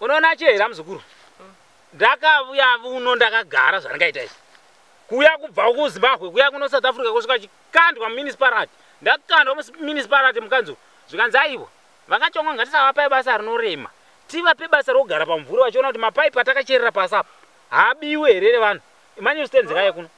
unoona achiya here amuzukuru ndakavuya vuno ndakagara zvandaita izvi kuuya kubva kuzimbabwe kuya kuno south africa kusvika chikandwa muminisparati ndakandwa muminisparati mukanzi zvikanzi aiwa vakachongwa ngatisavapai basa rinorema tivape basa rokugara pamvuri vachiona kuti mapaipi atakacherera pasi apa haabiwe here revanhu manyustenzekai kuno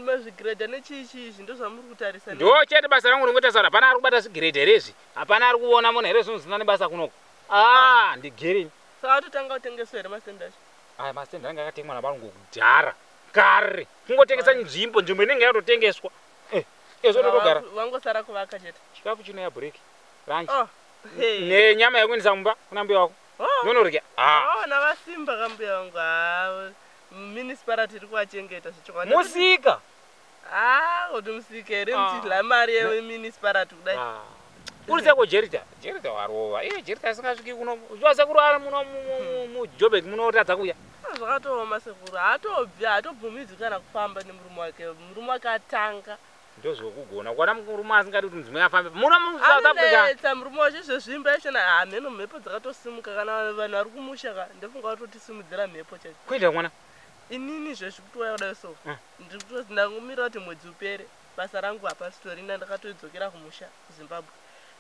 mazvigiredha nechiichii izvi ndozvamuri kutarisa ndo chete basa rangu ringoita sara pana ari kubata zvigiredha here izvi Hapana ari kuona munhu here zvinhu zvisina nebasa kunoko. Ah, ah. ndigirini. Saka totanga kutengeswa here mastand acho? Aya mastand anga akatengwa navarungu kudhara. Kare. Kungotengesa nzvimbo, nzvimbo inenge yatotengeswa. Eh, ezvo eh, totogara. Wangosara kuvaka chete. Chikafu chino ya break. Ranch. Oh. Hey. Ne nyama yakuendesa mumba kuna mbuya wako. Oh. Nonorya. Ah. Oh, na vasimba kambuya wangu. Ah. Municipality iri kuachengeta zvichokwadi. Musika. Ah, kuti musike here muchidla ah. mari yemunicipality kudai. Ah. Uri sako Jerita, Jerita warova. Iye Jerita asingasviki kuno. Uchiwa sekuru ari muno muJobek muno otadza kuya. Ah, zvakatooma sekuru. Haatobvi, haatobvumidzi kana kufamba nemurume wake. Murume wake atanga. Ndozvokugona. Kwana murume asingadi kuti mudzimai afambe. Muno muSouth Africa. Anetsa murume wacho zvezvimba ichena hameno mhepo dzakatosimuka kana vanhu vari kumusha ka. Ndofunga vatotisimudzira mhepo chacho. Kuita mwana. inini zvezvikutuwaya kudai so mm. ndiri kutozi ndangomira kuti mwedzi upere basa rangu hapasitorina ndakatoidzokera kumusha kuzimbabwe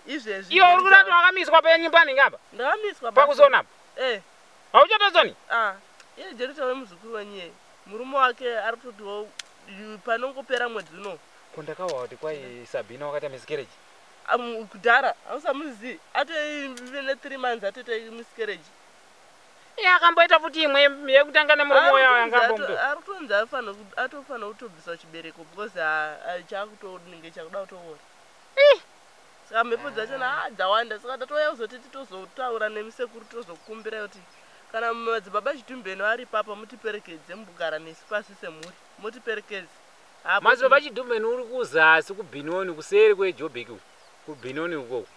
izvezvi iwe uri kurati wakamiswa penyu paningi apa ndakamiswa pakuzona apa eh hauchatozoni ah iye jerita wemuzukuru wenyu yeye murume wake ari kutotiwo panongopera mwedzi uno ko ndakawa kuti kwai sabhina wakaita miscarriage kudhara hausamuzivi atoive ne three months atoita miscarriage Iye akamboita futi imwe yekutanga nemurume uya yangambomuto. Ari kutonzi afana atofana kutobviswa chibereko because chakutonenge chakuda kutoora. Ih. Saka mhepo dzacho na dzawanda saka tatouya kuzoti titozotaura nemisekuru tozokumbira kuti kana madzibaba Chidumbeni vari papa mutiperekedze mugara nesu pasi semhuri mutiperekedze. Madzibaba Chidumbeni uri kuzasi kubinoni kuseri kweJobek kubinoni ukoko.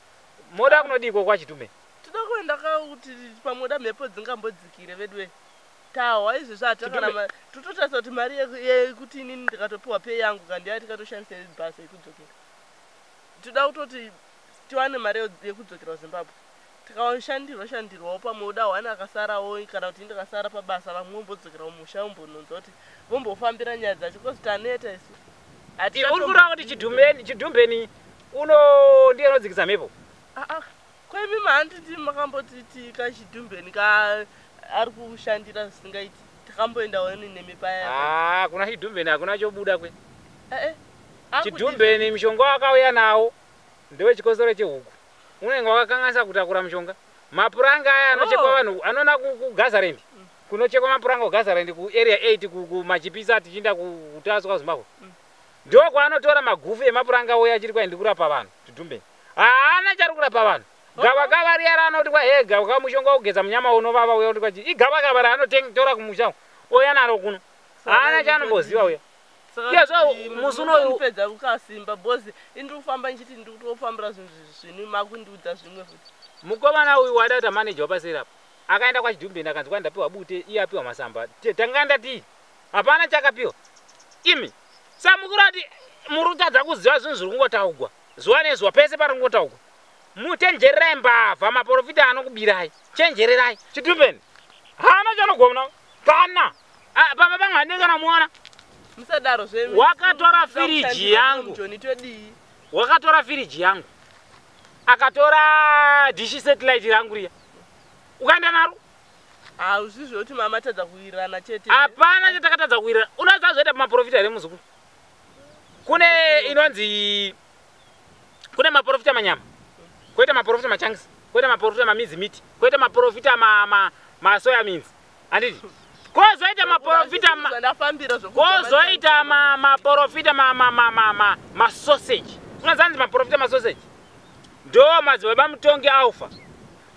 Moda kunodiko kwaChidumbeni? Tinoda kuenda ka kuti pamwe da mhepo dzingambodzikire veduwe. Tahwa izvezvi hatakana mari. Tototarisa kuti mari yekuti inini ndikatopiwa pay yangu ka ndiya tikatoshandisa basa yekudzokera. Tinoda kutoti tiwane mari yekudzokera kuZimbabwe. Tikashandirwa shandirwawo pamwe uda one akasarawo kana kuti ndikasara pabasa vamwe vombodzokera kumusha vombononza kuti vombofambira nyaya dzacho because taneta isu. Uri kureva kuti chidhumbeni uno ndiye anodzikisa mhepo? Ah ah. Ko imi mahanditi makamboti tika chidhumbeni ka ari kushandira zvisingaiti takamboendawo ini nemi paya. Ah, kuna chidhumbeni hakuna chobuda kwe. Eh eh. Chidhumbeni mishonga wakauya nawo ndewe chikosoro chehuku. Unenge wakakanganisa kutakura mishonga. Mapuranga aya anochekwa oh. vanhu anona kuGazarendi. Mm. Kunochekwa mapuranga kuGazarendi ku area 8 kumachipisa tichiinda kutaswa Zimbabwe. Mm. Ndokwaanotora magufu emapuranga uya achiri kwaindi kurapa vanhu chidhumbeni. haana chari kurapa vanhu gavakava riya raanoti kwa hee gavakava mushonga wokugeza munyama unovava uya kuti kwachi igavakava raanotora kumusha ouya naro kuno haana chaanomboziva uya musi unoupedza kukasimba bhozi indiri kufamba ndichiti ndiri kutofambira zvinhu zvinu makundiudza zvimwe futi mukomana uyu waida kuti amaneja wapaseri apo akaenda kwachidumbeni akanzi kwai ndapiwa bute iye apiwa masamba tanga ndatii hapana chakapiwa imi samukuru ati muri kutadza kuziva zvinhu zviri kungotaugwa zuva nezuva pese paringotaugwa muchenjererai mbavha maporofita anokubirai chenjererai chitumbeni haana chanogona kana ah, baba vangu handei kana muona musadaro zvenyu wakatora firiji yangu wakatora firiji yangu akatora dishi satellite rangu riya ukaenda naro hauzvizve kuti mama tadza kuwirirana chete hapana chatakatadza kuwirirana unoziva zvoita pamaporofita here muzukuru kune inonzi kune maporofita manyama koita maporofita machanks koita maporofita mamizi miti koita maporofita masoya minzi anditi kozoita maporofita kozoita maporofita masoseji unozanzi maporofita masoseji ndo madzibaba mutongi alfa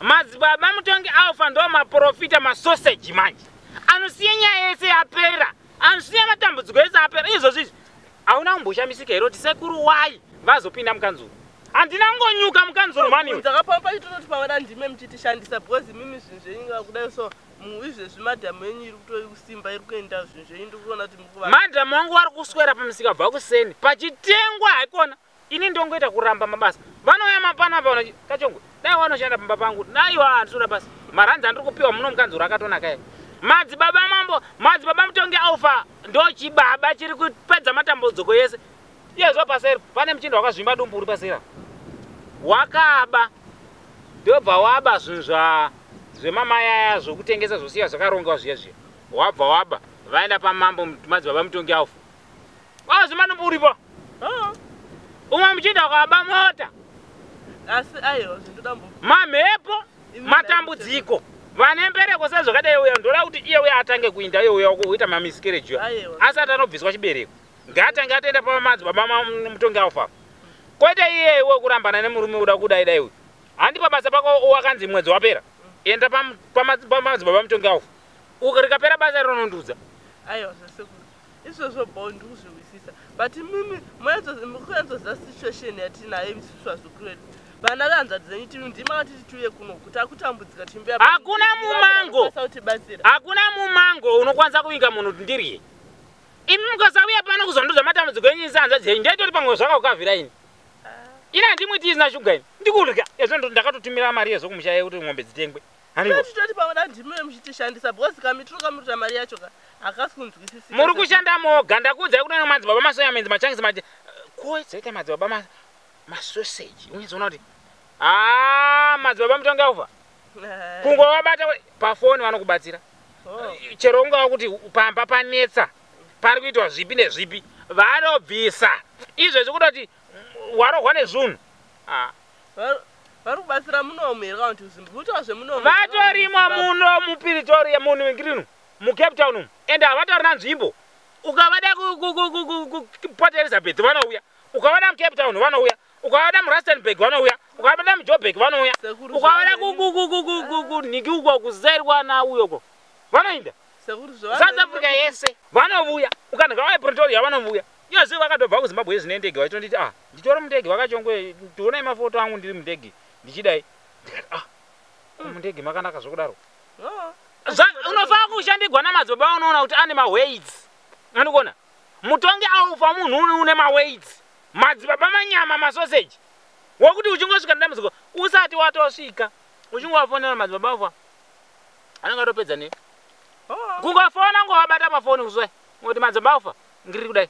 madzibaba mutongi alfa ndo maporofita masoseji manje anosiya nyaya yese yapera Anosiya matambudziko ese apera izvozvi izvi. Hauna kumboshamisika here kuti sekuru wai vazopinda mukanzuru? Handina kungonyuka mukanzuru mani. Ndakapamba pachitototi pavada ndime muchitishandisa because mimi zvinhu zvenyu inga kudai so izvezvi madam yenyu iri kutori kusimba iri kuenda zvinhu zvenyu ndiri kuona kuti mukuvaa. Madam wangu wari kuswera pamusika bva kuseni pachitengwa haikona. ini ndongoita kuramba mabasa vanouya mapana pa kachongwe dai wanoshanda pamba pangu naiwa handisura basa maranzi andiri kupiwa muno mukanzuro akatonaka e madzibaba mambo madzibaba mutongi alfa ndochibaba chiri kupedza matambudziko yese iyezvo paseri pane muchinda wakazvimba dumbu uri pasera wakaba ndobva waba zvinhu zva zvemamayaya zvokutengesa zvosiya zvakarongewa zviya zviya wabva waba vaenda pamambo madzibaba mutongi alfa Kwa zimana muripo. Oh. Umwe muchinda kwaba mota. Asi ayo zvindoda mbo. Mamhepo matambudziko. Vane mbereko sezvakadai uya ndoda kuti iye uya atange kuinda iye uya kuita mamiscarriage. Asati anobviswa chibereko. Ngaatange atenda pa madzi baba mutongi alfa. Kwete iye iwe kurambana nemurume uda kudai dai uyu. Handi pabasa pako wakanzi mwedzi wapera. Enda pa pa madzi baba mutongi alfa. Ukarikapera basa rinondudza. Ayo zvasekuru. izvozvo bho ndikuzvihwisisa but imimi mukunyatsoziva situation yatinayo imisisu vazukuru vedu vana vehanzvadzi dzenyu timi ndima vatiti tiuye kuno kuti akutambudzika timbuya hakuna mumango hakuna mumango unokwanisa kuvinga munhu kuti ndirye imi mukasauya pano kuzonduza matambudziko enyu isi hanzvadzi yenyu ndaitori pamwe zvakakavira ini ah. ini handimuiti isina shuga ini ndikurya ezvo ndakatotumira mari yezvo kumusha yekuti ng'ombe dzitengwe Tototi pamwe da ndimi vemuchitishandisa because kamitiro kamunoita mari yacho ka hakasi kunzwisisika. Muri kushanda moga ndakuudzai kuti no madzibaba masoya menzi machangisi maje ko dzoita madzibaba ma masoseji unyizoona kuti haa madzibaba mutonge aufa kungowabata pafoni vanokubatsira oh. chero ungava kuti pamba panetsa pari kuitwa zvipi nezvipi vanobvisa izvezvi kutoti warohwa nezvunhu ah. vari kubatsira munomu here kana kuti uzimbi kuitawa zvemunomu vatorimo muno mupiritoria munhu wengirinu mucape town umu ende havatauri na nzvimbo ukavada kuport elizabeth vanouya ukavada mucape town vanouya ukavada murastenburg vanouya ukavada mujobek vanouya ukavada kunhiki uko kuzairwa na uyo ko vanoinda south africa yese vanovuya ukanhika vaepretoria vanovuya iyozivi vakatobva kuzimbabwe yezvinendege vaitonditi a ah, nditori mundege vakachongwe tionai mafoto angu ndiri mundege ndichidai ndikati ah mundege makanaka zvokudaro unofanira kushandigwa namadzibaba unoona kuti ane mawaids andikuona mutongi aufa munhu uni une mawaids madzibaba manyama masoseji wokuti uchingosvika nedambudziko usati watosvika uchingovafonera madzibaba ufa anenge atopedza ne oh. kungofona ngovabata pafoni kuzwai ngoti madzibaba ufa ngiri kudai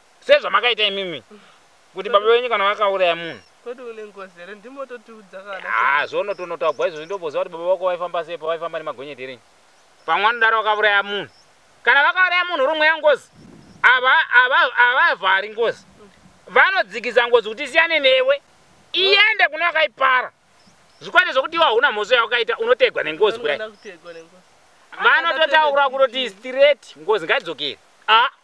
sezvamakaita imimi kuti baba venyu kana vakauraya munhu kwedu une ngozi here ndimototiudza kana ah, zvono tonotagwa izvozvi ndoboziva kuti baba vako vaifamba sei pavaifamba nemagonyeti here pamwe anodaro vakauraya munhu kana vakauraya munhu rumwe yangozi avavhari ngozi vanodzikisa ngozi kuti isiyane newe iende kune wakaipara zvikwete zvokuti iwa huna mhosva yawakaita unotegwa nengozi kudai vanototaura kutoti straight ngozi ngaidzokere a ah.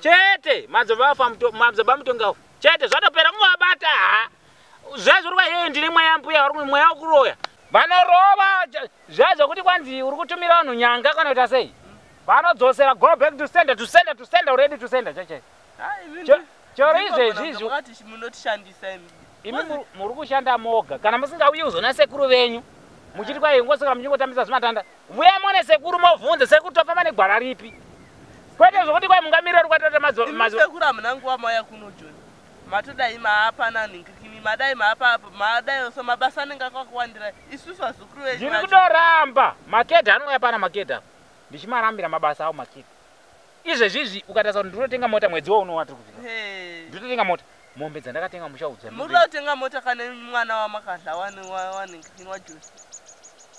chete madzibaba afa muto- madzibaba mutonga afa chete zvatopera kungavabata ha zvaizvori kwaiyoyo ndine mweya wambuya vari kumwe mweya wekuroya vanorova ch- zvaizokuti kwanzi uri kutumira vanhu nyanga kana kuita sei vanodzosera go back to sender to sender to sender already to sender cheche Cho- chero izvezvi izvo munotishandisa imi imi mu- muri kushanda moga kana musingauyi kuzona sekuru venyu muchiti kwai ngosaka muchingotambisa zvimatanda Vuya mone sekuru mobvunza sekuru tofamba negwara ripi. Kwete zvokuti kwai mungamirira rukatata mazo mazo. Sekuru amuna nguva mauya kuno John. Matodai maapa nani ngikini madai maapa apo madai so mabasa anenge akakuwandira isusu vazukuru venyu. Ndiri kudoramba makeda anouya pana makeda. Ndichimarambira mabasa awo makeda. izvezvi izvi ukatarisa kuti ndinotenga mota mwedzi wauno watiri kuvika ndinotenga mota mombe dzandakatenga muchaudzwa muri kutenga mota kana mwana wamakadla wanwajosi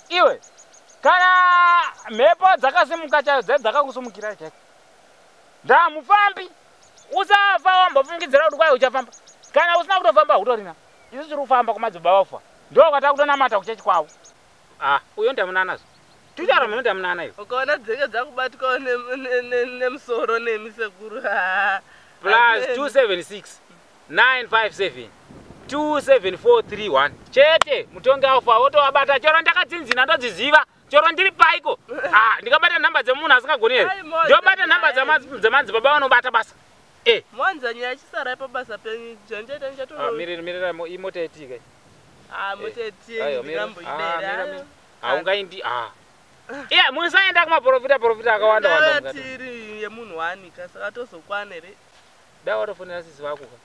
iwe kana mhepo dzakasimuka chayo dzai dzakakusumukirai chaiko ndamufambi usafa wambofungidzira kuti kwai uchafamba kana usina kutofamba hutorina isu tiri kufamba kumadzibaba ufa ndo kwatakutonamata kuchechi kwavo Ah, uyo ndamunana zvo. Tutara muno ndamunana iyo. Ukaona dzenge dzakubatwa nemusoro nemi sekuru. Plus 276 957 27431 chete mutongi aufa wotovabata chero ndakatsinzina ndodziziva chero ndiri paiko ah, ndikabata nhamba dzemunhu asingagoni here ndobata nhamba dzemanzi baba vanobata basa Eh. Mwanza nyaya chisarai pabasa penyu. Janjeta njato. Ah, mirira mirira imota yetika. Ah, mota eh. yetika. Ayo mirira. Ah, mirira. Ah, ungaindi ah. Yeah, musaenda kuma profita profita akawanda wanda. Ndati iri yemunhu wani kasaka tozokwana here. Dai watofonera sisi vako ka.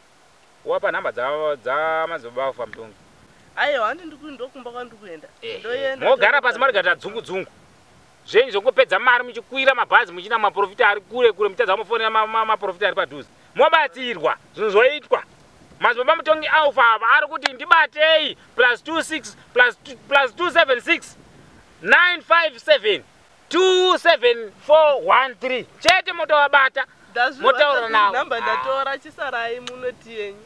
Wapa nhamba dza dza madzibaba vako pamutongi. Ayo handi ndikuindokumba kwandikuenda. Eh, eh. Ndoyenda. Mogara pasi mari gata dzungu dzungu. zvenyu zvekungopedza mari muchikwira mabhazi muchina maprofita ari kure kure muchitadza kumafonera maprofita ari padhuze mobatsirwa zvinhu zvoitwa mazibaba mutongi alfa ava ari kuti ndibatei plus 26 plus 276 957 27413 chete motovabata motaura navo ndatora chisarai munoti yenyu